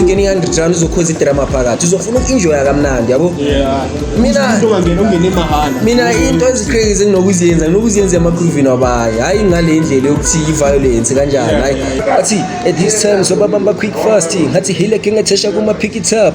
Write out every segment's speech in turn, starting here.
ungene i-underground uzokhoza idrama phakathi uzofuna uku-enjoya kamnandi yabo mina into eziqekize nginokuziyenza nginokuziyenza emagruvini wabayo hhayi ngale ndlela yokuthi i-violence kanjani hayi athi at this time sobabamba quick fast ngathi hile ke ngathesha kuma-pick it up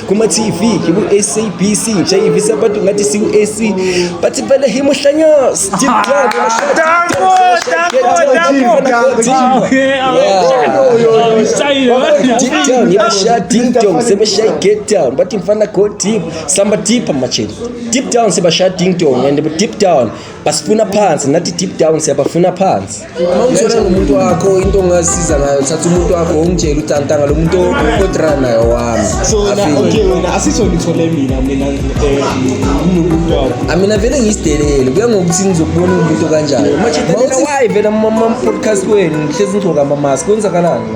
kuma-tv ngiku-sabc ngishayivisa abantu ngathi siku-ac bathi vele him uhlanyos ngibasha deep down sebeshaye get down bathi mfana go deep samba deep amajeni deep down sebasha ding dong and deep down basifuna phansi nathi deep down siyabafuna phansi uma ungithola nomuntu wakho into ongasiza ngayo thatha umuntu wakho ongitshela ukuthi antanga lo muntu odra naye owami amina vele ngisidelele kuya ngokuthi ngizokubona umuntu kanjani uma vele mama podcast wenu ngihlezi ngigcoka amamask kwenzakalani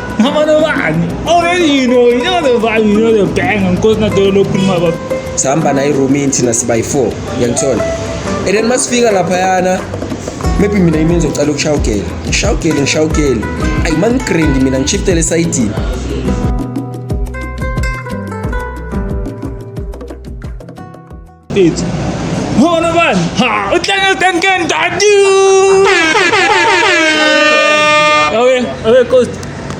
Namana bani? Already you know, you know the vibe, you know the bang, and cause not the open my bab. Sihamba naye room inthi nasi by 4, uyangithola. And then masifika lapha yana maybe mina yimi ngizocela ukushaya ugele. Ngishaya ugele, ngishaya ugele. Ayi mangigrindi mina ngishiftele esayidini. It's Ho naman! Ha! Utlangutan ka ang dadyo! Awe, awe, coach.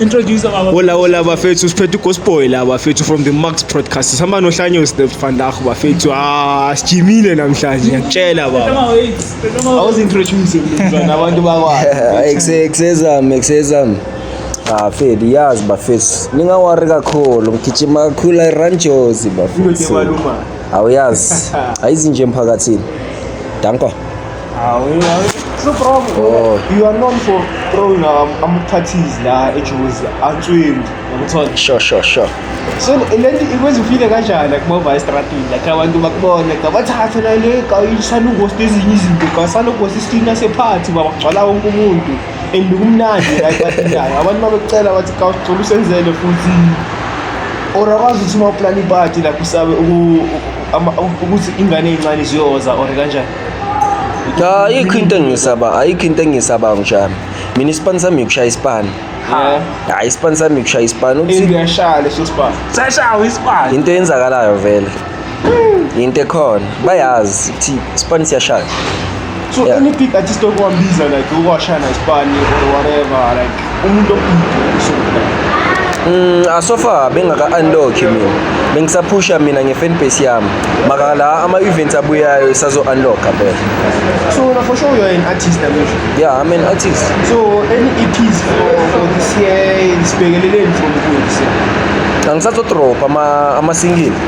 Introduce our... Hola, hola, bafethu. Siphethe uGosboy la, bafethu, from the Max Podcast. Sihamba nohlanyo Steph van Dach, bafethu. Ah, sijimile namhlanje. Ngiyakutshela, baba. Awuzintroduce mntwana abantu bakwazi. Exexezam, exexezam. Ah, Fed, yazi bafethu. Ningawareka kakhulu. Ngigijima kakhulu i-Ranjozi, bafethu. Uyothi baluma. Awuyazi. Ayizinje emphakathini. Danko. Awu, it's no problem. Oh. You are known for throwing um, amaphathies la eJozi, answini, ngokuthola. Sure, sure, sure. So le nto ikwenza ufile kanjani kumova estradini like abantu bakubone ngabathathe la le kayisanungosi nezinye izinto kasanungosi isina sephathi babagcwala wonke umuntu and kumnandi la ipatinayo abantu uma bekucela bathi kawucela usenzele futhi or akwazi ukuthi uma uplana ipati lapho usabe uku- ama- ukuthi ingane eyincane ziyoza or kanjani Cha ayikho into engisaba, ayikho into engisaba ngijami. Mina isipani sami ukushaya isipani. Yeah. Hayi isipani sami ukushaya isipani. and Ukuthi uyashaya leso sibani sashawa isibani into eyenzakalayo vele. yinto ekhona bayazi ukuthi isipani siyashaya so yeah. any big artist okuwambiza like ukuwashaya naisipani or whatever like umuntu so Mm, ah, so far bengaka-unlock mina bengisaphusha mina nge-fan base yami maka la ama-events abuyayo isazo-unlocka phela so na for sure you're an artist namusha yeah i'm an artist so any eps for, for this year sibhekeleleni from kuise angisazodropha ama-singile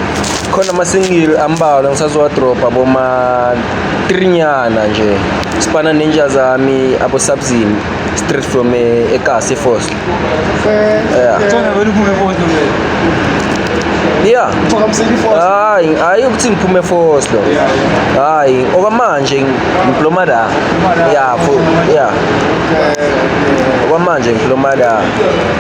khona amasingili ambalwa ngisazowadrobha boma-trinyana nje sifana nenja zami abosabzini straight from eh, ekasi fosta ya hayi hayi ukuthi ngiphume efoslo hayi okwamanje ngiploma la ya ya okwamanje ngiploma la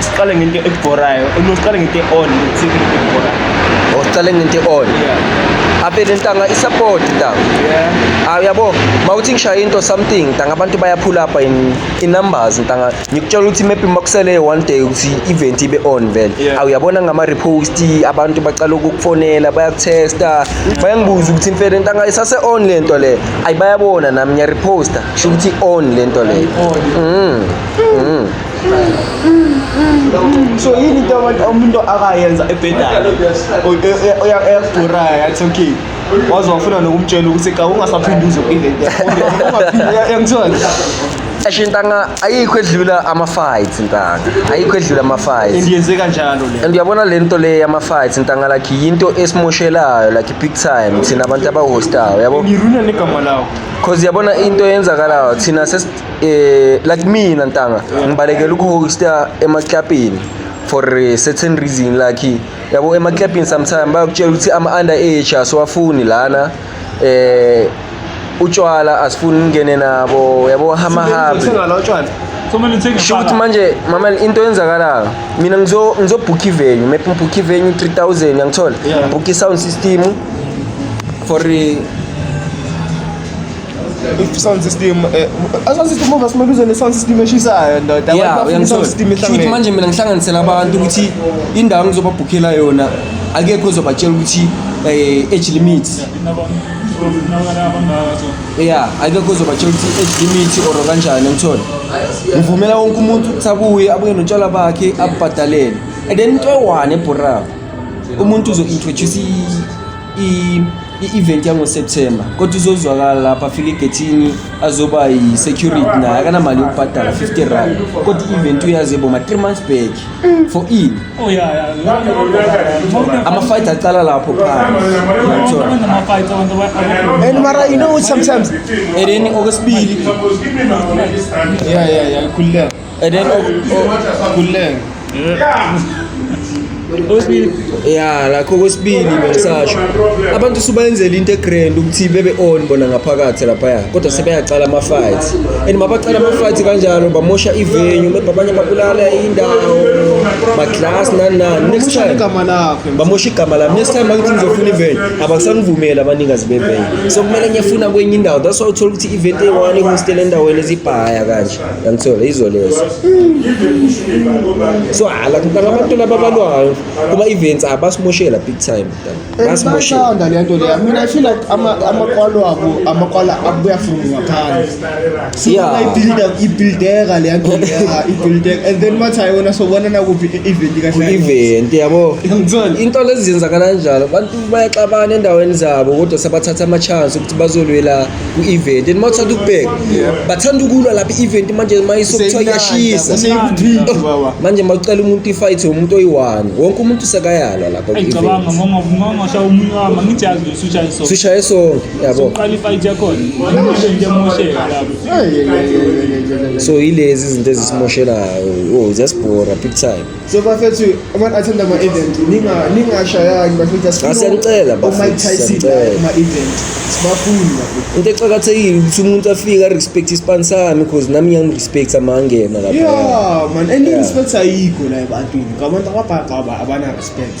siqale ngento ebhorayo no siqale ngento e-on ukuthi ngento ebhorayo or siqale ngento e-on yeah avele ntanga isupport ntanga yeah ah uyabo mawuthi ngishaya into something ntanga abantu bayaphula apha in in numbers ntanga ngikutshela ukuthi maybe makusele one day ukuthi event ibe on vele Yeah. awuyabona ngama repost abantu baqala ukukufonela bayakutesta bayangibuza ukuthi mfele ntanga isase on lento le ayibayabona nami ngiya reposta sho ukuthi on lento le mm mm so yini into abantu umuntu akayenza ebhedayo eyakudurayo yathi okay waze wafuna nokumtshela ukuthi ka ungasaphinde uze ku-event yakho Asho intanga ayikho edlula ama fights intanga. Ayikho edlula ama fights. Indiyenze kanjalo le. And uyabona le nto le yama fights intanga like yinto esimoshelayo like big time thina abantu aba hostayo yabo. Ngiruna negama lawo. Cause yabona into eyenzakalayo thina eh like mina ntanga ngibalekela ukuhosta emaklapini for a certain reason like yabo emaklapini sometimes bayakutshela ukuthi ama under age asiwafuni lana eh utshwala asifuni ngene nabo yabo hama habi Singalo utshwala. So many things. Sho ukuthi manje mama into yenzakalayo mina ngizo ngizobhukha ivenue maybe ngibhukha ivenue 3000 yangithola Yeah. ngibhukha i-sound system for eh, If sound system eh, sound system over simele uze ne sound system eshisayo ndoda yeah abantu bafuna sound system uyangisho ihlangene manje mina ngihlanganisela abantu ukuthi indawo ngizobabhukhela yona akekho ozobatshela ukuthi eh, age limit ya akekho ozobatshela ukuthi age limit or kanjani ngithole ngivumela wonke umuntu ukuthi abuye abuye notshwala bakhe abubhadalele and then into ewane ebhorako umuntu uzo-introduce i- i-event yangoSeptember kodwa uzozwakala lapha afike egethini azoba yi-security naye akanamali yokubhadala 50 rand kodwa i-event uyazi boma 3 months back for in oh, ama-fight aqala lapho and mara you know sometimes and then okwesibili yeah yeah yeah ikhululeka Eden Kuleng. Okwesibili. Yeah, lakho okwesibili bengisasho. Abantu subayenzela into egrand ukuthi bebe on bona ngaphakathi lapha ya. Kodwa sebeyaqala ama fights. And mabaqala ama fights kanjalo bamosha ivenue, mebhe abanye babulala indawo. Ma class nani nani. Next time igama lakhe. Bamosha igama lami. Next time bakuthi ngizofuna ivenue, abasangivumeli abanikazi bevenue. So kumele ngiyafuna kwenye indawo. That's why uthola ukuthi event eyi-one ihostela endaweni ezibhaya kanje. yangithola izwe lezi so hala mntana abantu laba abalwayo kuba events abasimoshela big time basimoshela le nto le mina i feel like amakwalo abo amakwala abuya from ngaphandle so yeah. ibuilda ibuildeka le nto leya ibuildeka and then mathi ayona so bona nakuphi event kahle event yabo into lezi zenzakala kanjalo abantu bayaxabana endaweni zabo kodwa sabathatha ama chance ukuthi bazolwela ku-event and mawuthanda ukubheka bathanda ukulwa lapha i-event manje mayisokuthiwa iyashisa oh, manje mawucela umuntu ifight umuntu oyi-one wonke umuntu sekayalwa lapha sishaye sonke yabo so yilezi izinto ezisimoshelayo o oh, ziyasibhora big time So bafethu abantu athanda ama event ninga ningashayani bafethu asifuna siyanicela bafethu Mike Tyson ama event sibafuni bafethu into exakathekile ukuthi umuntu afike respect ispan sami because nami ngiyam respect amangena lapha yeah man and yeah. respect ayikho la ebantwini ngabantu ababhaqaba abana respect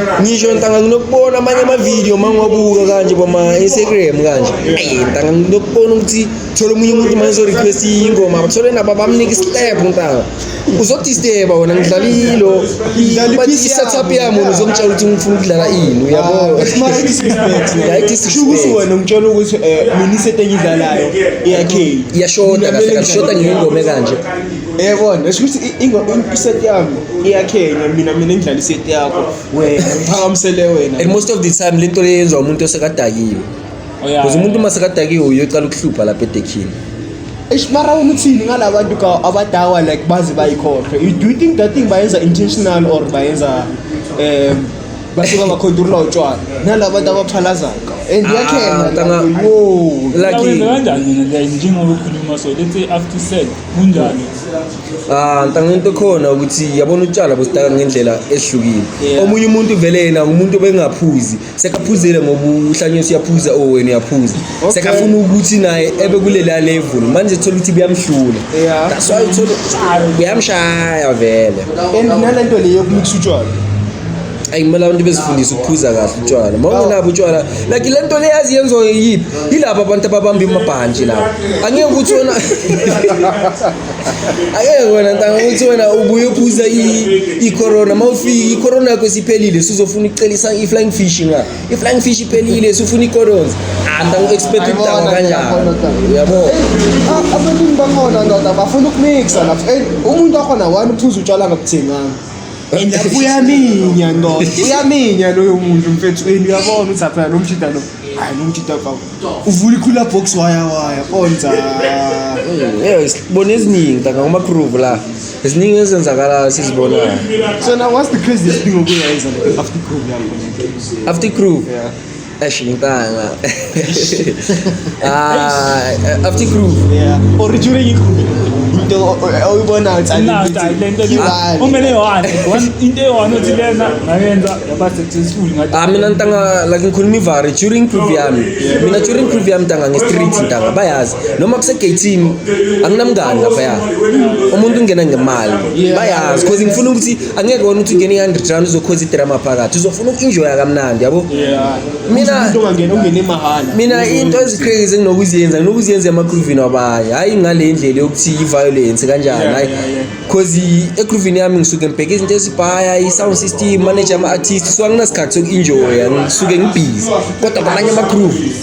ngisho ngitanga nginokubona amanye amavidiyo uma ngiwabuka kanje bama-instagram kanje ayi ngitanga nginokubona ukuthi thole omunye umuntu uma ngizo-request ingoma bathole nabo bamnika islab ngitanga uzodisteba wena ngidlala ilo but i-setup yami wena uzongitshela ukuthi ngifuna ukudlala ini uyaboaishukuthi wena ngitshela ukuthi um mina isetengidlalayo iyakhe iyashoda kahle kahle shoda ngiyingome kanje Yebona esho ukuthi i- ingo- in- iset yami iyakhenya mina mina ngidlala iset yakho wena ngiphakamisele wena and most of the time lento le yenziwa umuntu osekadakiwe Oh, yeah. because umuntu uma sekadakiwe uyoqala ukuhlupha lapha edekhini eish mara wena uthini ngala bantu ka abadawa like baze bayikhohlwe you do you think that thing bayenza intentional or bayenza um basuka bakhonturula utshwala nala bantu abaphalazayo and Ah, iyakhenya tanga- yo Like- Uyawenza kanjani mina like njengoba ukhuluma so let's say after sex kunjani Ah, ngicabanga into khona ukuthi yabona utshwala bositaka ngendlela ehlukile. Yeah. Omunye umuntu vele yena umuntu obengaphuzi, sekaphuzile ngoba uhlanye usiyaphuza o wena uyaphuza. Okay. Sekafuna ukuthi naye ebe kulela level. Manje thola ukuthi kuyamhlula. Yeah. That's why uthola kuyamshaya vele. and nalento le yokumikisa utshwala ayi kumele abantu bezifundise ukuphuza kahle utshwala uma ungenabo utshwala like le nto leyazi yenziwa yiyiphi yilabo abantu ababamba imabhantshi labo angeke ukuthi wena angeke wena ntanga ukuthi wena ubuye uphuza i-corona uma ufika i-corona yakho siphelile suzofuna ukucelisa i-flying fish nga i-flying fish iphelile sufuna i-corons anda u-expect ukudakwa kanjani uyabo ah, abaningi bakhona ndoda bafuna ukumixa lapho umuntu wakhona wani uphuza utshwala ngabuthenganga and lapho uyaminya no uyaminya loyo muntu mfethu and uyabona ukuthi aphela lo mjida lo hayi lo mjida kawu uvula ikhula box waya waya konza Eh, sibone eziningi taka kuma prove la eziningi ezenzakalayo sizibonayo so now what's the craziest thing okuyayenza like after group yakho after prove yeah Eish, ngintanga. Ah, eh, after groove. Yeah. Or during it. Into oyibona ukuthi Now, I learned that you- Ibali. kumele yohane One- into eyi-one othi lena ngayenza yaba successful ngathi Ah, mina ntanga like ngikhuluma ivari during groove yami. Mina during groove yami ntanga nge-street ntanga bayazi. Noma kusegeyithini anginamngani lapha ya. Umuntu ungena ngemali. Bayazi because ngifuna ukuthi angeke wona ukuthi ungene i-hundred rand uzokhonza idrama phakathi uzofuna uku-enjoya kamnandi yabo mina mina into ezi-crazy enginokuziyenza nginokuziyenza emagruvini wabanye hhayi ngale ndlela yokuthi i-violence kanjani hhayi cause egruvini yami ngisuke ngibheke izinto ezibhaya i-sound system manager ama-artist so anginasikhathi soku-enjoya ngisuke ngibhizi kodwa kwamanye amagroove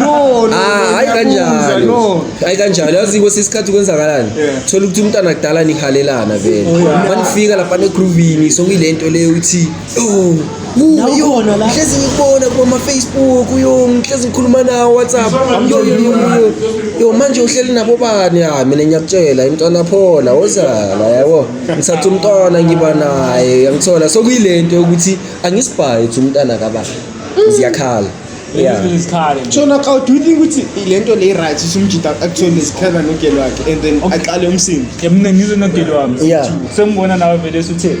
no no ah hayi kanjalo no hayi kanjalo yazi kwesinye isikhathi kwenzakalani thola ukuthi umntana kudala nihalelana vele oh, manifika lapha negroovini sokuyilento leyo uthi oh uyona la hlezi ngikubona kuma Facebook uyo ngihlezi ngikhuluma nawo WhatsApp yo yo yo yo manje uhleli nabo bani ha mina ngiyakutshela imntwana phola wozala yabo ngithatha umntwana ngiba naye yangithola sokuyilento ukuthi angisibhayi ukuthi umntana kabani ziyakhala yeah isikhala nje so naka do you think ukuthi le nto le right usumjita actually sikhala nogelo wakhe and then aqale umsindo yamina ngizwe nogeli wami Yeah. sengibona nawe vele suthe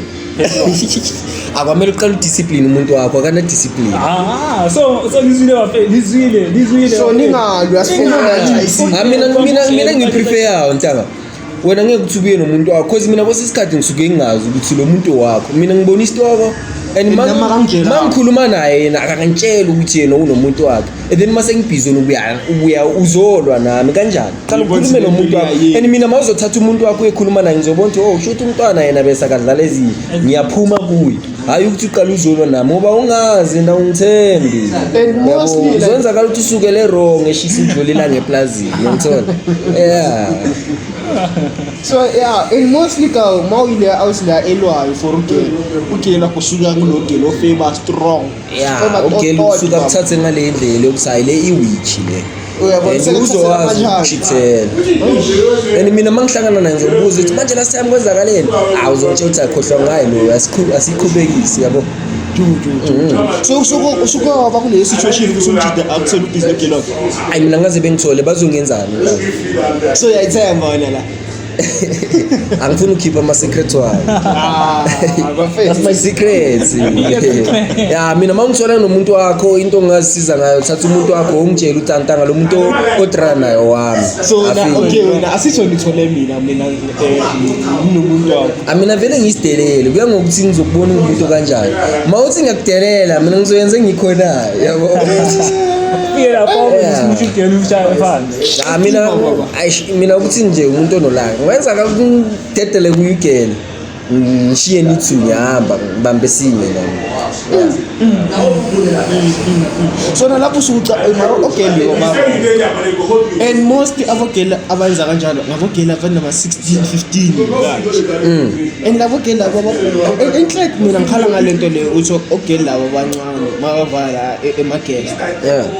akwamele uqala udiscipline umuntu wakho akana discipline ah so so lizwile bafe lizwile lizwile so ningalwi asifuna Ingalwi. ngathi ayisini Ah, mina mina mina ngipreferayo ntanga wena ngeke ukuthi ubuye nomuntu wakho cause mina kwesinye isikhathi ngisuke ngingazi ukuthi lo muntu wakho mina ngibona isitoko and And nami akangitshela. ma ngikhuluma naye yena akangitsheli ukuthi yena unomuntu wakhe and then mase ngibhizi ubuya ubuya uzolwa nami kanjani qala Ngibona ukhulume ukuthi nomuntu wakho lempilo and mina mawuzothatha umuntu wakho uyekhuluma naye ngizobona ukuthi oh shuthi umntwana yena bese akadlala ezinye ngiyaphuma kuye hhayi ukuthi uqala uzolwa nami ngoba ungazi na ungithembi zonzakala ukuthi usukele wrong eshisa idlula ilanga eplazini yangithola ya so ya and mostly ka uma uyile awusila elwayo for ugela ugela kusuka kulo gela ofeba strong ya ugeli usuke akuthathe ngale ndlela yokuthi hayi le iwitchi le and uzowazi ukuchithela and mina uma ngihlangana naye ngizobuza ukuthi manje last time kwenzakaleni awu uzongitshela ukuthi akhohlwa ngayo loyo asiqhubekisi yabo usuke waba kuleyo situation ukuthi umjida akuthole ubhizi negelo ayi mina ngaze bengithole bazongenzani so yayithemba wena la angifuni ukhipha ama secrets wayo ah, that's my secrets ya mina uma ngithola nomuntu wakho into ongazisiza ngayo thatha umuntu wakho ungitshela utantanga lo muntu odrana nayo wami so na okay wena asisho ngithole mina mina eh, nginomuntu wakho amina ah, vele ngisidelele kuya ngokuthi ngizokubona umuntu kanjani uma uthi ngiyakudelela mina ngizoyenza engikhonayo yabo Fira, pobre, yeah. discutiu que ele já é cha mina aish mina ukuthi nje umuntu onolaka ngenza ngidedele kuyigela ngishiye nithi ngihamba ngibambe sinye nami sona lapho usuca mara ogeli ngoba and most abogeli abenza kanjalo ngabogeli abantu nama 16 15 and labo geli labo enhlek mina ngikhala ngalento leyo ukuthi ogeli labo abancane makavala e-, emagela yeah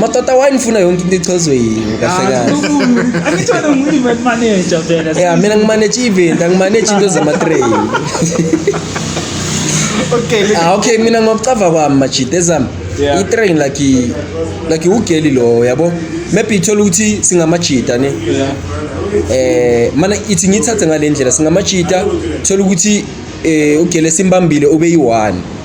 Matata why nifuna yonke into ichazwe yini kahle kahle. Angithole ngu-event manager vele. Yeah, mina ngimanage event, angimanage into zama-train. Okay, look. Ah okay mina ngokucava kwami majita ezami Yeah. i-train like i- like ugeli lowo yabo maybe ithola ukuthi singamajita ne eh mana ithi ngithathe ngale ndlela singamajita thola ukuthi eh ugele simbambile ube yi-one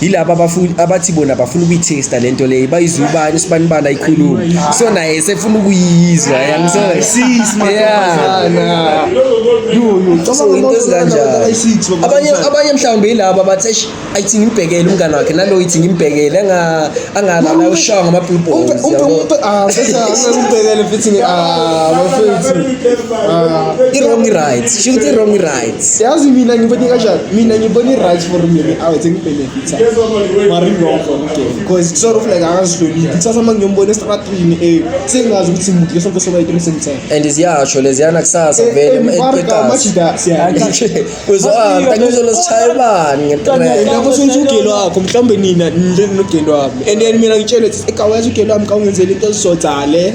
yilaba abafuni abathi bona bafuna ukuyithesta lento leyo bayizwa ubani sibani bala ikhuluma so naye sefuna ukuyizwa abanye abanye mhlawumbe yilaba bathi eish ayithi ngimbhekele umngane wakhe nalo yithi ngimbhekele anga angalala ushaya ngama blue balls ah bese angakubhekele futhi ah bafethu ah i wrong right shuthi wrong right yazi mina ngibone kanjani mina ngibone i-right for mina awethe ngibenefitha maringongo because kusort of like akazihloniphi kusasa uma ngiyombona estratrini e sengazi ukuthi mude sonke sobayitini sengithena and ziyasho leziyana kusasa eh, vele eh, eqasizozolosishayebani lapho sokuthi ugelo wakho mhlawumbe nina nje nogelo wami and then mina ngitshele ukuthi ekawazi ugelo wami ka ungenzela into ezizodale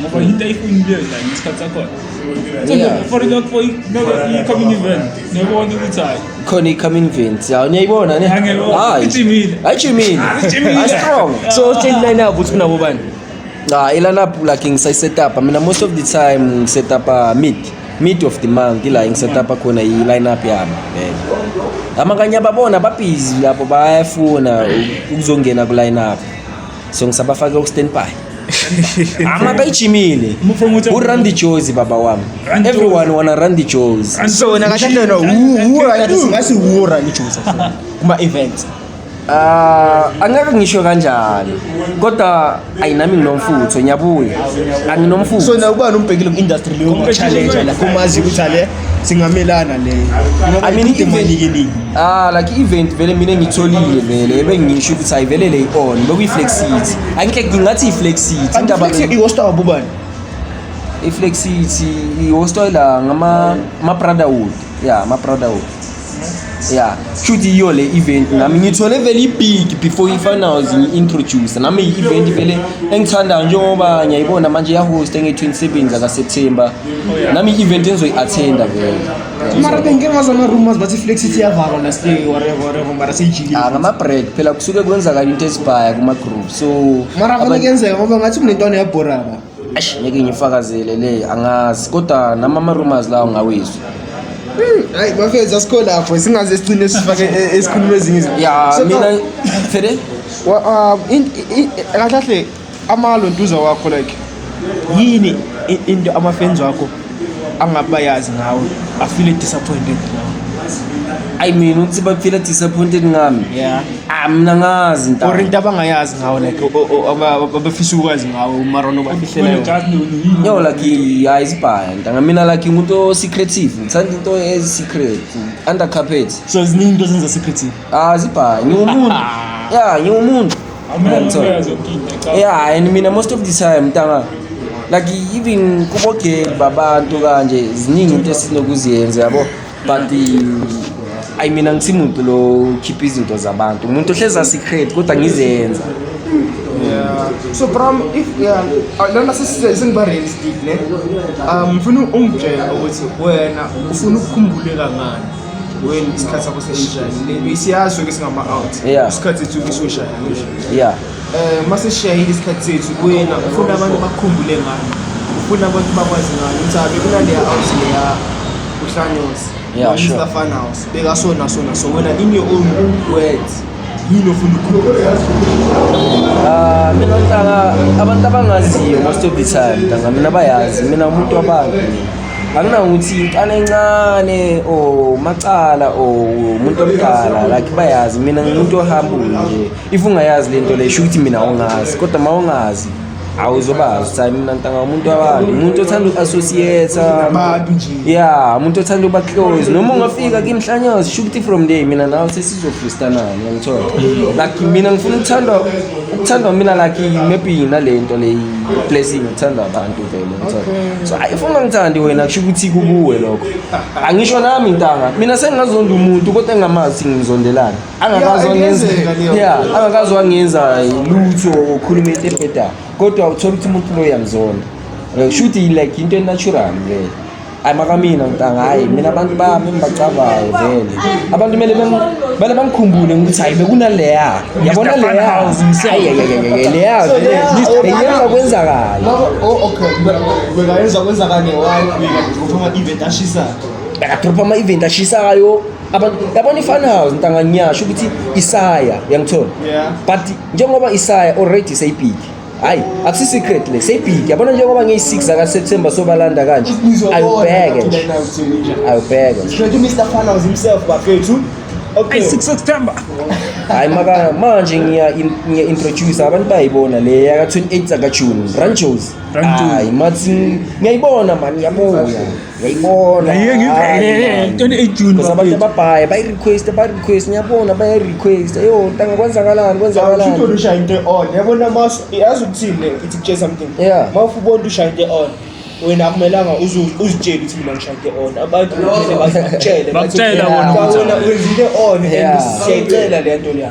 Ngoba yinto ayifunile la ngesikhathi sakhona. Yeah. For the for i-coming event. Niyabona ukuthi hayi. khona i-coming event ya niyayibona ne Angiyiboni. Hayi. Ijimile. ayijimile Ijimile. Hayi, strong so change line up uthi unabo bani ah ilanap like ngisayisetaper mina most of the time ngisetaper mid mid of the month ila ngisetaper khona i-lineup yami vele amakanye ababona babhizi lapho bayafuna ukuzongena ku-lineup so ngisabafake ustanby ama bayijimile urun the jozi baba wami everyone wanna run the jozi so wena kahle kahle no who who kathi singasi who run ijozi kuma events Ah, angeke ngisho kanjalo kodwa ayinami nginomfutho ngiyabuya anginomfutho so na ubani umbhekile ku industry leyo challenge la kumazi ukuthi ale singamelana leyo I mean, even- imanikiningi ah like event vele mina ngitholile vele bengisho ukuthi ayivele le on bekuyiflexity angihle ngingathi iflexity indaba le iwosta wabubani iflexity ihostoy la ngama ama brotherhood yeah ama brotherhood ya shuthi yiyo le event nami ngithole vele ibig before i-finals ngi-introduce nami i-event vele engithandayo njengoba ngiyayibona manje yahosta nge-27 zakaseptember nami i-event engizoyi-athenda vele mara bengike ngazi ama-rumors bathi flex ithi iyavalwa last day whatever whatever mara seyijikile Ah, ngama-break phela kusuke kwenzakala into ezibhaya kuma-group so mara abantu- kuyenzeka ngoba ngathi kunentwana yabhoraba Eish ngeke ngifakazele le angazi kodwa nama ama rumors lawo ngawizwa. Hayi bafethu asikho lapho singaze sigcine sifake e- esikhuluma ezinye izinto. Ya So, mina no, Fede wa- um, in- i- i- kahle kahle amalo ntuza wakho like yini i- into ama-fans wakho angabayazi ngawe bafile disappointed ngawe ayi mina ukuthi bafile disappointed ngami yeah ah mina ngazi nta or into abangayazi ngawe like abafisa ukwazi ngawe umarono bafihleleyo yo like hayi sibhaya nta ngamina like umuntu osecretive ngithanda into esecret under carpet so ziningi into zenza secretive ah sibhaya ngiwumuntu ya ngiwumuntu yeah and mina most of the time ntanga like even kubogeli babantu kanje ziningi into esinokuziyenza yabo but i mean angisimuntu lo khipha izinto zabantu umuntu ohleza secret kodwa ngizenza Yeah. So from if yeah, uh, lona sesiba realistic ne. Um, mfuna ungitshela ukuthi wena ufuna ukukhumbuleka ngani? when isikhathi sakho seyinjani isiyazi sonke singama-out isikhathi sethu isoshaya ya um uma sesishayile isikhathi sethu kuyena ufuna abantu bakhumbule ngani ufuna abantu bakwazi ngani ukuthi abe kunaleya out leya uhlanyosi Yeah, sure. Mr. Funhouse. They are so and so and so. When in your own words, yini ofuna ukukhuluma ah, mina ntanga abantu abangaziyo most of the time ntanga mina bayazi mina umuntu wabantu anginangokuthi intana encane o macala o umuntu omdala like bayazi mina ngimuntu ohambule nje if ungayazi le nto le sho ukuthi mina awungazi kodwa ma ungazi awuzobazi uthi hayi mina ntanga umuntu wabantu umuntu othanda uku-associate abantu nje ya umuntu othanda uba close noma ungafika kimhlanyozi sho ukuthi from day mina nawe sesizofustanani yangithola like mina ngifuna ukuthandwa ukuthandwa mina like maybe nale nto le blessing ukuthandwa abantu vele ngithola so hayi ufuna ngithandi wena kusho ukuthi kukuwe lokho angisho nami ntanga mina sengingazonda umuntu kodwa engingamazi ukuthi ngimzondelani angakazi wangenza yeah angakazi wangenza lutho ukhuluma into ebheda kodwa uthola ukuthi umuntu lo uyamzonda kushuthi like into enatural vele hayi makamina mntanga hayi mina abantu bami engibacabayo vele abantu kumele bale bangikhumbule ukuthi hayi bekunaleya yabona leya leya beyenza kwenzakala bekayenza kwenzakala ne-one week uphuma event ashisayo bekaphuma event ashisayo yabona i-fun house ntanga ngiyasho ukuthi isaya uyangithola but njengoba isaya already seyibhiki hayi akusi-secret le seyibhiki yabona njengoba ngiyi-six zakaseptemba sobalanda kanje ayobheke nje ayobheke hayi maka manje ngiya-introduce abantu bayayibona le yaka-28 zakajune ranjos hayi mathi ngiyayibona mani yabuya yayibona Aye, ngi- hayi, eh, eh, man. 28 June, Because abantu bakwethu. ababhaye bayi-requesta bayi-request ngiyabona bayayi-requesta yo ntanga kwenzakalani kwenzakalani Awuthole ushaya into on. Yabona mas yazi ukuthini le ithi kutshe something. Yeah. Mawufu ubona ushaya into on. Wena akumelanga uzu- uzitshele ukuthi mina ngishaya into on. Abantu kumele bakutshele. Bakutshela bona ukuthi- Wena wenza into on and Yeah. siyayicela le nto leya.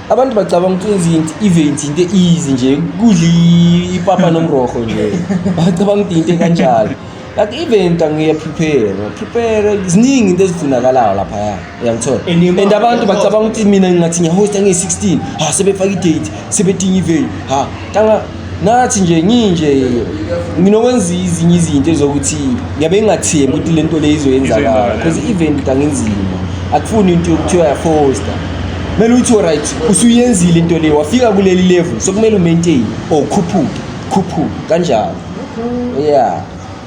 abantu bacabanga ukuthi wenza into event into easy nje kudla ipapa nomroho nje bacabanga ukuthi into kanjalo but even ngiya prepare prepare ziningi into ezifunakalayo lapha ya uyangithola and abantu bacabanga ukuthi mina ngathi ngiyahosta ngiyi-16 ha sebefaka i-date sebedinga iveni ha tanga ngathi nje nginje nginokwenza izinye izinto ezokuthi ngiyabe ngingathembi ukuthi le nto le izoyenzakala because i-event ukuthi angenzima akufuni into yokuthiwa yafosta kumele uthi oright usuyenzile into le wafika kuleli level so kumele umaintain or khuphuke khuphuke kanjalo ya yeah.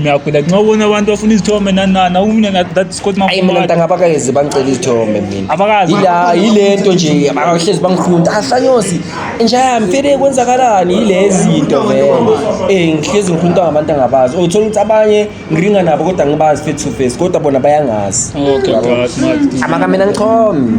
Ngiyaphila nxa ubona abantu bafuna izithombe nanana umina na that Scott Ayi mina Mafumani. ntanga abakazi bangicela izithombe mina. Abakazi. Yila yilento nje abahlezi bangifunta. Ahlanyosi inja yami fere kwenzakalani yilezi into vele. Eh ngihlezi ngifunta ngabantu angabazi. Uthola ukuthi abanye ngiringa nabo kodwa ngibazi face to face kodwa bona bayangazi. Okay, God, Martin. Amaka mina ngichome.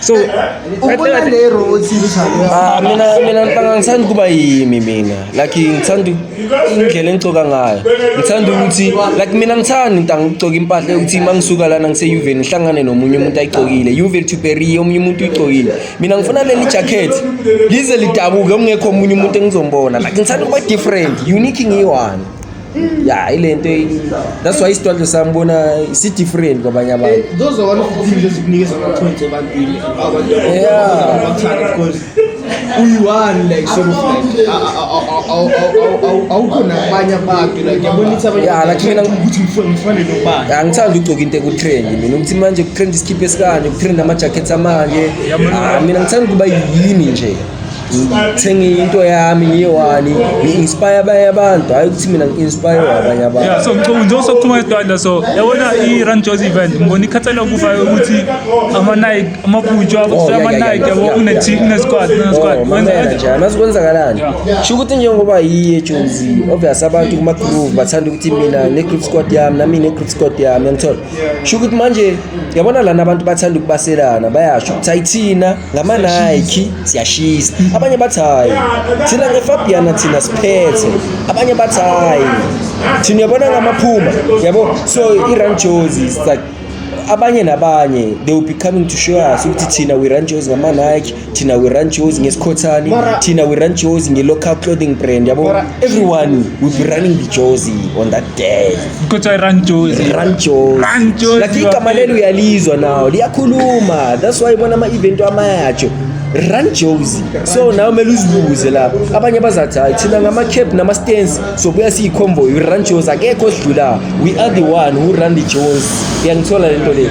So, Ubona le road series alo. Ah, mina mina ngicabanga ngithanda ukuba yimi mina. Like ngithanda indlela engigcoka ngayo. Ngithanda ukuthi like mina ngithanda into angigcoka impahla ukuthi mangisuka lana ngise Juve ngihlangane nomunye umuntu ayigcokile. Juve to Perry omunye umuntu uyigcokile. Mina ngifuna leli jacket lize lidabuke ungekho omunye umuntu engizombona. Like ngithanda ukuba different, unique ngiyi one. ya ilento that's why isitwandlo sami bona si-different kwabanye abantu uyi-one like sort of like awukho nabanye abantu like yabona ukuthi abanye Ya, like mina- ukuthi ngifo- ngifane nobani angithandi ukugcoka into ekutrend mina ukuthi manje kutrend isikhipha esikanje kutrend ama-jackets amanje Ah, mina ngithanda ukuba yini nje ngithenge into yami ngiyewani ngi-inspire abanye abantu hhayi ukuthi mina ngi-inspire abanye abantu ya so ngicabanga njengoba sokuphuma edwadla so yabona i-run joys event ngibona ikhathala kufa ukuthi ama-nike amabhutshwa oh, abusela ama-nike yabo kunesquad kunesquad oh, mazi kwenzakalani sho ukuthi njengoba yiye jozi obvious abantu kuma-groove bathanda ukuthi mina ne-group squad yami nami ne-group squad yami yangithola sho ukuthi manje yabona lana abantu bathanda ukubaselana bayasho ukuthi hayi thina ngama-nike siyashisa abanye bathi hayi thina ngefabiana thina siphethe abanye bathi hayi thina uyabona ngamaphuma yabo so i-run jozi it's like abanye nabanye they will be coming to show us ukuthi thina we run jozi ngama-nike thina we run shows ngesikhothani thina we run shows nge-local clothing brand yabo everyone will be running the jozi on that day kuthiwa i-run jozi run jozi Run Jozi, like igama bafethu. lelo uyalizwa nawo liyakhuluma that's why ibona ama-event amayatsho run jozi so nawe kumele uzibuze lapho abanye bazathi hayi thina ngama-cap nama-stance sobuya siyikhomboyi run jozi akekho osidlulayo we are the one who run the jozi uyangithola le nto leyo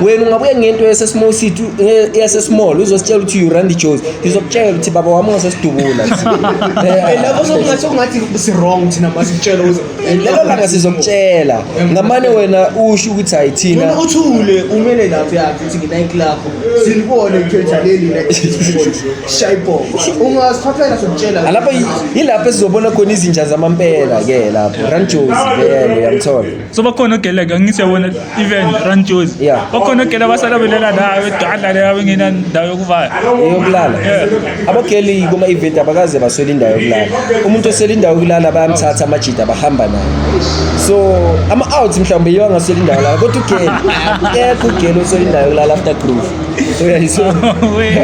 wena ungabuya ngento yasesmall city yasesmall uzositshela ukuthi you run the joes ngizokutshela ukuthi baba wami ungasesidubula eh, lapho sokungathi ungathi si-wrong thina masitshela eh, lelo langa sizokutshela ngamane wena usho ukuthi hayi thina uthule umele lapho yakhe ukuthi nginayiki lakho silibone khetha leli shayibhoko ungasiphaphela sokutshela alapho yilapho esizobona khona izinja zamampela ke lapho run joes vele yamthola so bakhona ogele ke ngithi yabona even run joes Yeah. bakhona ogele abasala belela nayo edwala leyo abengena ndawo yokuvaya eyokulala Yeah. abageli kuma-event abakaze baswele indawo yokulala umuntu oswele indawo yokulala bayamthatha amajida bahamba naye so ama-out mhlawumbe yiyo angaswele indawo yokulala kodwa ugeli akekho ugeli oswele indawo yokulala after groove uyayiso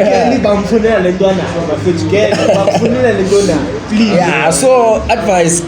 Kelly bamfunela le nto anayo bafethu Kelly bamfunela le nto anayo please ya so advice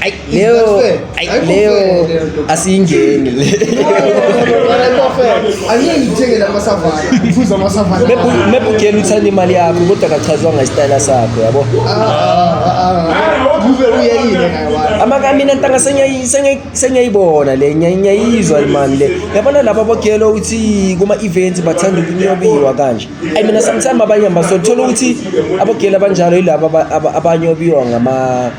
Ay, Leo, ay, Leo, asiyingeni le. angeke ngithengele amasavana ngiphuza amasavana Mebugeni uthanda imali yakho kodwa kachazwa ngesitayela sakho yabo. kube uyeyile naye wami Amaka mina ntanga sengiyayi- sengiyayi- sengiyayibona le ngiyayi- ngiyayizwa imani le. Yabona laba bogelo uthi kuma events bathanda ukunyobiwa kanje. Ay mina sometimes abanye basothola ukuthi abogelo abanjalo yilaba aba- aba- abanyobiwa ngama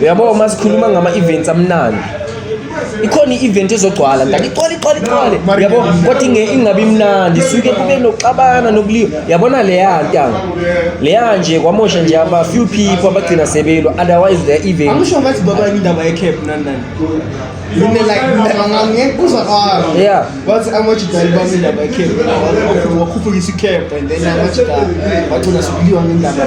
uyabo uma sikhuluma ngama-events amnandi ikhona i-event ezogcwala ndake icwale icwale icwale yabo kodwa inge ingabi mnandi suke kube nokuxabana nokuliwa yabona leya ntanga leya nje kwamosha nje aba few people abagcina sebelwa otherwise their event angisho ngathi baba indaba ye-cap nani nani Mina like ngangikuza kwami. Yeah. Wathi amajidali bami indaba ye-cap. Wakhuphuka isi-cap and then amajidali bagcina sekuliwa ngendaba.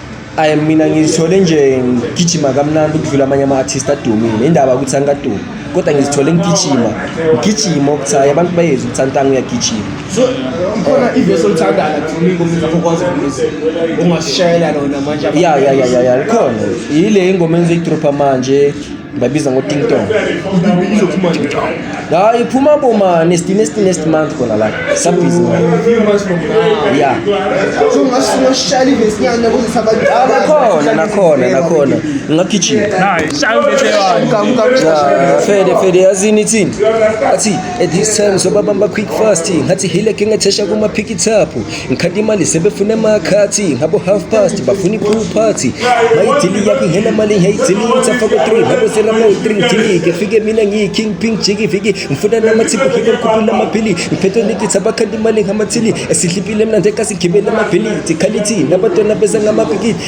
ayi mina ngizithole nje ngigijima kamnandi ukudlula amanye ama-artist adumile indaba ukuthi angikadumi kodwa ngizithole ngigijima ngigijima ukuthi hhayi abantu bayezi ukuthi antanga uyagijima so ikhona ivesi olithandayo lakudumile ngomntu okwazi ukuza ungashayela lona manje ya ya ya ya ya likhona yile ingoma engizoyidropha manje babiza ngotingtong hayi iphuma boma nesti nesti nesti month khona la sabhizi ya nakhona nakhona nakhona ngingagijima fede fede yazini ithini athi at this time sobabamba quick fast ngathi hile ke ngathesha kuma-phikithaphu Ngikhala imali sebefuna amakhathi ngabo half past bafuna i-pool party bayidili yakho ingena mali ngiyayidili ngithafa ku-three ngabo selamayo three ngidilike fike mina ngiyi-king pink jiki viki ngifuna namathiphu ngike ngikhuphula amaphili ngiphethwe nigitha bakhanda imali ngamathili esidlipile mnandi ekasigibele amabhilidi khalithi nabatwana beza ngamabhikidi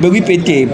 bekuyibhede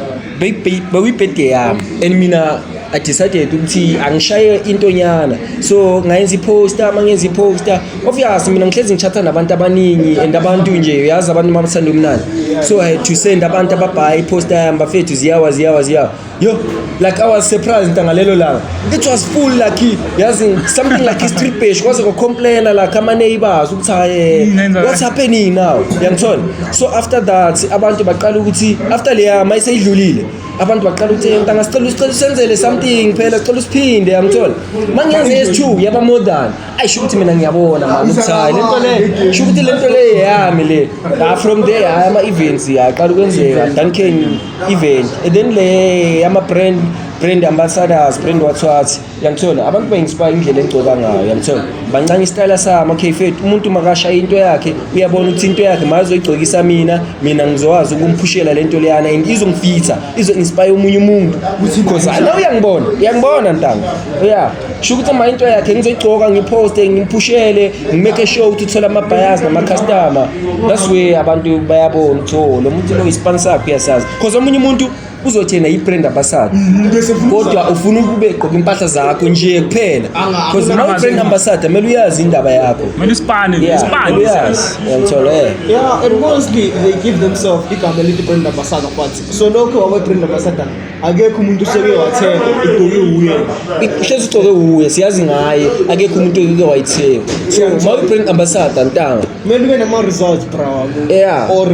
bekuyibhede yami and mina i decided ukuthi angishaye into nyana so ngayenza iposter uma ngenza iposter obvious mina ngihlezi ngichatha nabantu abaningi and abantu nje uyazi abantu uma bathanda umnandi so i had to send abantu ababhaye iposter yami bafethu ziyawa ziyawa ziyawa Yo, like I was surprised ntangalelo langa. It was full lucky. Yazi something like his trip page kwaze ko complain like ama neighbors ukuthi haye what's happening now? Yangithola. So after that abantu baqala ukuthi after leya maye seyidlulile abantu baqala ukuthi ntanga sicela usicela usenzele something phela sicela usiphinde yangithola. Mangiyenze yes2 yaba more than ayi sho ukuthi mina ngiyabona mani ukuthi hayi le nto le sho ukuthi le nto le yeyami le la from there hayi ama-events yaqala ukwenzeka duncan event and then le yama-brand brand ambassadors brand wathwathi yangithola abantu ba-inspire indlela engigcoka ngayo yangithola bancane isitayela sami okay fet umuntu makashaya into yakhe uyabona ukuthi into yakhe mazoyigcokisa mina mina ngizokwazi ukumphushela le nto leyana and izongifitha izo-inspire omunye umuntu because nawe uyangibona uyangibona ntanga ya sho ukuthi uma into yakhe ngizoyigcoka ngiphoste ngiphushele ngimake sure ukuthi uthole ama-buyers nama-customer that's way abantu bayabona ukuthi o oh, lo muntu lo yi-sponsor yakho uyasazi because omunye umuntu uzothena yibrand ambassador mm, kodwa ufuna ukube gqoka impahla zakho nje kuphela because uma ubrand ambassador kumele uyazi indaba yakho kumele isipane isipane uyazi uyangithola eh yeah and mostly they give themselves igama elithi brand ambassador but so lokho wawe brand ambassador akekho umuntu useke wathenga igqoke wuye ihlezi ugcoke wuye siyazi ngaye akekho umuntu eke wayithenga so ma uyi-brand ambassador ntanga kumele ube nama-results bra Yeah. or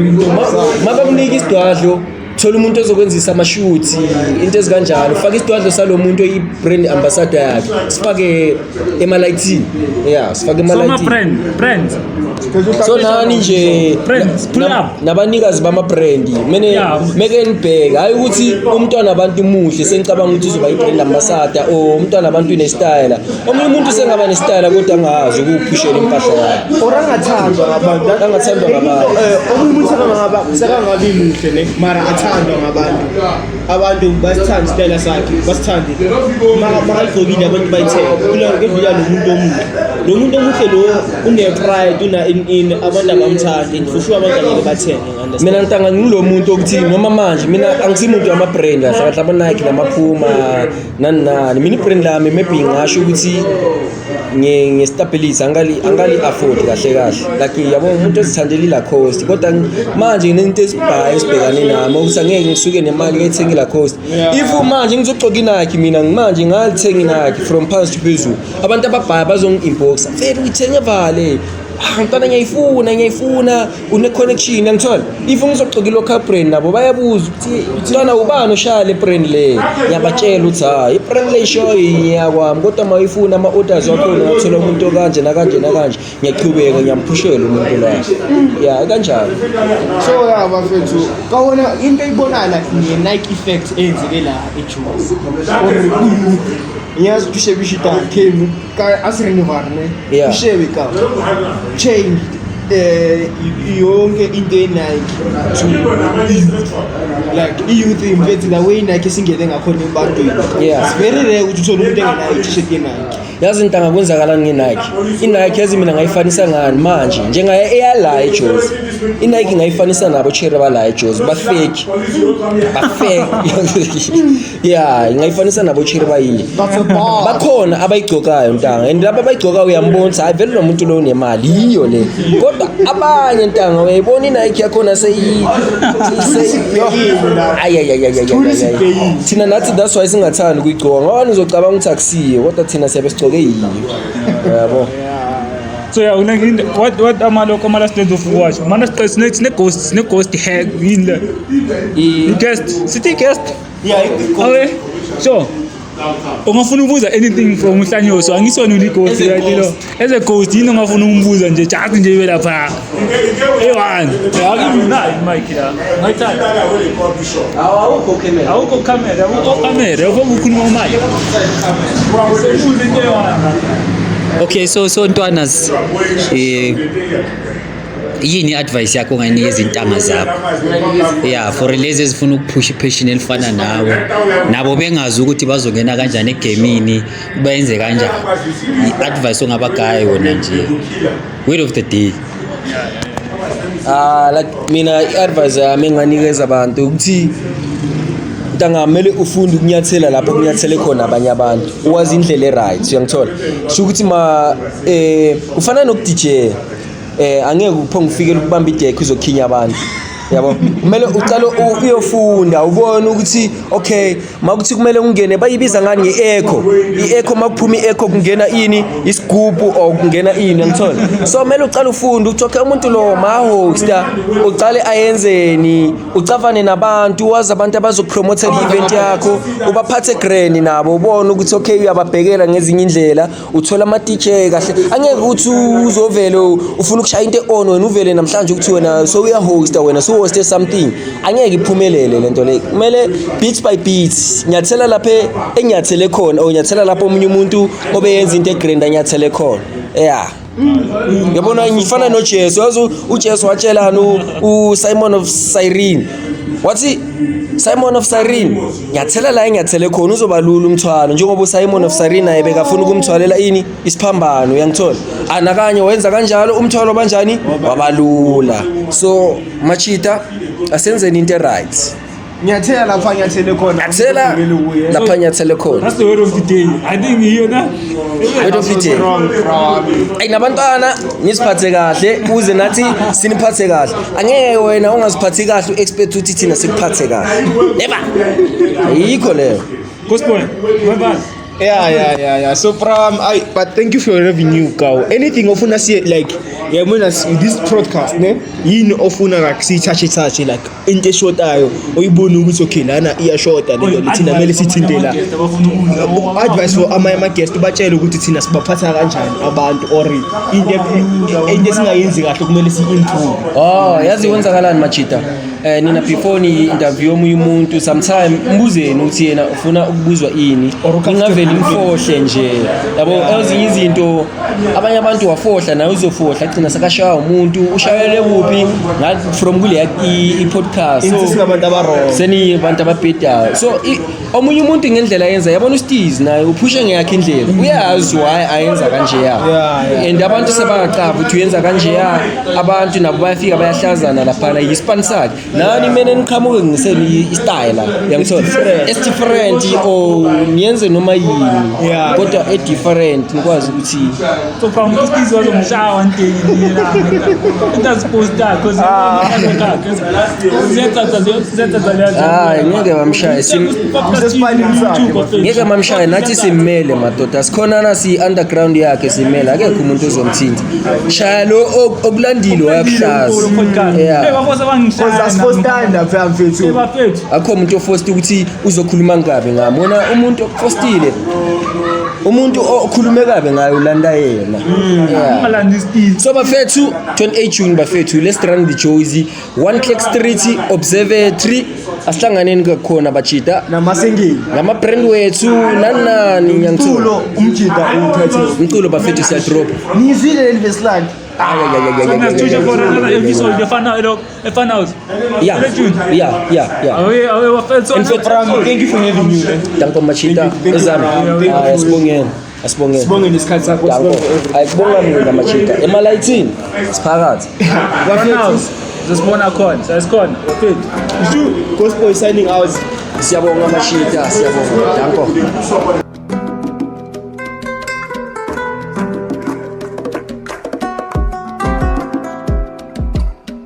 ma bakunike isidwadlo thola umuntu ozokwenzisa amashuthi into ezikanjalo faka isidwadlo salo muntu oyi-brand ambassador yakhe sifake emalayithini ya sifake so emalayithini ama-brand brands so nani nje Brands, pull na- up. nabanikazi bama-brandi mene Yeah. meke nibheke hhayi ukuthi umntwana abantu muhle sengicabanga ukuthi uzoba yi-brand ambasada or umntwana abantu unesitayela omunye umuntu sengaba nesitayela kodwa angazi ukuwuphushela impahla yakhe or angathandwa ngabantu Angathandwa ngabantu. Eh, omunye umuntu sekangaba sekangabi muhle ne mara athandwa ngabantu abantu basithanda isitayela sakhe basithande makalugqokile abantu bayithenge kudlula lo muntu omuhle lo muntu omuhle lo une-pride una-in-in abantu abamthandi and for sure abantu angeke bathenge mina ngitanga ngulo muntu okuthi noma manje mina angisimuntu wama-brand kahle kahle abanike namaphuma nani nani mina i-brand lami maybe ngasho ukuthi ngistabilize angali angali afford kahle kahle like yabo umuntu ezithandela ila cost kodwa manje nginento esibhayi esibhekane nami ukuthi angeke ngisuke nemali ngethenge ila cost if manje ngizogcoka inakhi mina manje ngalithenga inakhi from past phezulu abantu ababhayi bazongi inbox mfethu uyithenge vale ah mntwana ngiyayifuna ngiyayifuna une-connection angithole if ngizoxoka i-local brand nabo bayabuza ukuthi mntwana ubani oshaya le brand le ngiyabatshela ukuthi hhayi ibrand le ishoyo ngiyakwami kodwa uma uyifuna ama-orders wakhona ungathola umuntu okanje nakanje nakanje ngiyaqhubeka ngiyamphushela umuntu la ya kanjalo so ya bafethu kawona into eyibonana nge-nike effect eyenzeke la ejuzi or kuyouth ngiyazi ukuthi ushebisha idakhe asirinovarne Yeah. ushewe ka change eh, y- yonke into yenike to youth like i-youth imfethi la way inike esingene ngakhona ebantwini Yeah. It's very rare ukuthi uthole umuntu engenayo t-shirt yenike yazi ntanga kwenzakalani ngenike inike yazi mina ngayifanisa ngani manje njengaye eyala ejozi inike ngayifanisa nabo chere bala ejozi bafeki bafeki ya ingayifanisa nabo chiri bayini bakhona abayigcokayo ntanga and laba abayigcokayo uyambona ukuthi hayi vele lo muntu lo unemali yiyo le kodwa abanye ntanga uyayibona inike yakhona seyi thina nathi that's why singathandi ukuyigcoka ngoba nizocabanga ukuthi akusiyo kodwa thina siyabe sigcoke yiyo yabo so yeah unengi what what amalokho amalast days of watch mana siqe sine ghost sine ghost hack yini le I-guest. Sithi i-guest. Yeah, i-guest. Okay. Sure. ungafuna ukubuza anything from uhlanyoso angisona ulighost right lo as a ghost yini ongafuna ukumbuza nje just nje ibe lapha eyi-one akimnayo mike la ngayithaawukho camera awukho camera awukho ukhuluma umike okay so so ntwanas um eh, yini i-advice yakho ongayinika izintanga zakho ya for lezi ezifuna ukuphusha ipheshini elifana nawe nabo bengazi ukuthi bazongena kanjani egemini bayenze kanjani i-advice ongabagaya yona nje word of the day ah like mina i-advice yami enganikeza abantu ukuthi ntanga kumele ufunde ukunyathela lapho kunyathele khona abanye abantu uwazi indlela e-right uyangithola sho ukuthi ma um ufana nokudijela eh angeke uphonge ufikele ukubamba idekho izokhinya abantu yabo kumele uqale uyofunda ubone ukuthi okay makuthi kumele ungene bayibiza ngani nge-echo i-echo makuphuma i-echo kungena ini isigubhu or kungena ini angithole so kumele uqale ufunde ukuthi okay umuntu lo mahosta uqale ayenzeni ucavane nabantu wazi abantu abazopromotha i-event yakho ubaphathe greni nabo ubone ukuthi okay uyababhekela ngezinye indlela uthola ama-dj kahle angeke ukuthi uzovele ufuna ukushaya into e-on wena uvele namhlanje ukuthi wena so uyahosta wena so hoste something angeke iphumelele le nto le kumele beats by beats nyathela lapha enyathele khona or nyathela lapho omunye umuntu obeyenza into egrand anyathele khona ya yabona ngifana nojesu yazi ujesu watshelani usimon of cyrene wathi simon of cyrene nyathela la enyathele khona uzoba lula umthwalo njengoba uSimon of Cyrene naye bekafuna ukumthwalela ini isiphambano uyangithola anakanye wenza kanjalo umthwalo banjani wabalula so machita asenzeni into right nyathela lapha nyathele khona nyathela lapha nyathele khona that's the word of the day i think you hear that Wait of it. Ay nabantwana nisiphathe kahle uze nathi siniphathe kahle. Angeke wena ungaziphathi kahle uexpect ukuthi thina sikuphathe kahle. Never. Ayikho leyo. Kusibone. Mabani. Yeah, yeah, yeah, yeah. So, Pram, I but thank you for your revenue, cow. Anything ofuna see like yeah, when as this podcast, ne? Yini ofuna like see touch touch like into eshotayo uyibone ukuthi okay lana iyashoda le nto thina kumele sithinte la advice for amanye ama-guest ubatshele ukuthi thina sibaphatha kanjani abantu or into e- into esingayenzi kahle kumele si-improve oh yazi kwenzakalani majita um eh, nina before ni-interview omunye umuntu sometime mbuzeni ukuthi yena ufuna ukubuzwa ini ngingavele imfohle nje yabo ezinye izinto abanye abantu wafohla naye uzofohla agcina sekashaywa umuntu ushayele kuphi from kule i-podcast seni abantu ababhedayo so omunye umuntu ngendlela yenza yabona ustiz naye uphushe ngeyakhe indlela uyazi why ayenza kanjeya and abantu sebangacava ukuthi uyenza kanjeya abantu nabo bayafika bayahlazana laphana yisipani sakhe nani mina niqhamuke ngiseni istyle yangithola esdifferent or niyenze noma yini Yeah. kodwa edifferent nikwazi ukuthi So from iskizo zomshawa ndini la. Into aziposta cause zenza zenza zenza hayi ngeke bamshaye sim- ngeke mamshaye nathi simmele madoda sikhonana siyi-underground yakhe simmele akekho umuntu ozomthinta shaya lo ok- okulandile wayakuhlaza Yeah. Cause that's first time that I'm feeling. bafethu akho umuntu ofosta ukuthi uzokhuluma ngabe ngami wona umuntu ofostile umuntu okhulume kabe ngaye ulanda yena Yeah. ungalandi isipili so bafethu 28 june bafethu let's run the jozi One Click Street Observatory asihlanganeni kakhona bajida namasingili ngama-brand wethu nanani ngiyangithulo umjida uwuphethe umculo bafethu siyadropa ngizile leli vesilandi Thank you for having me. Danko Machita, Zami. Sibongeni. Asibongeni. Sibongeni isikhathi sakho Danko. sibonge everything. Ayikubonga mina machita. Emalayithini siphakathi. Bafethu, Sesibona khona, sesikhona. Bafethu. Shu, Ghost Boy signing out. Siyabonga machita, siyabonga. Danko.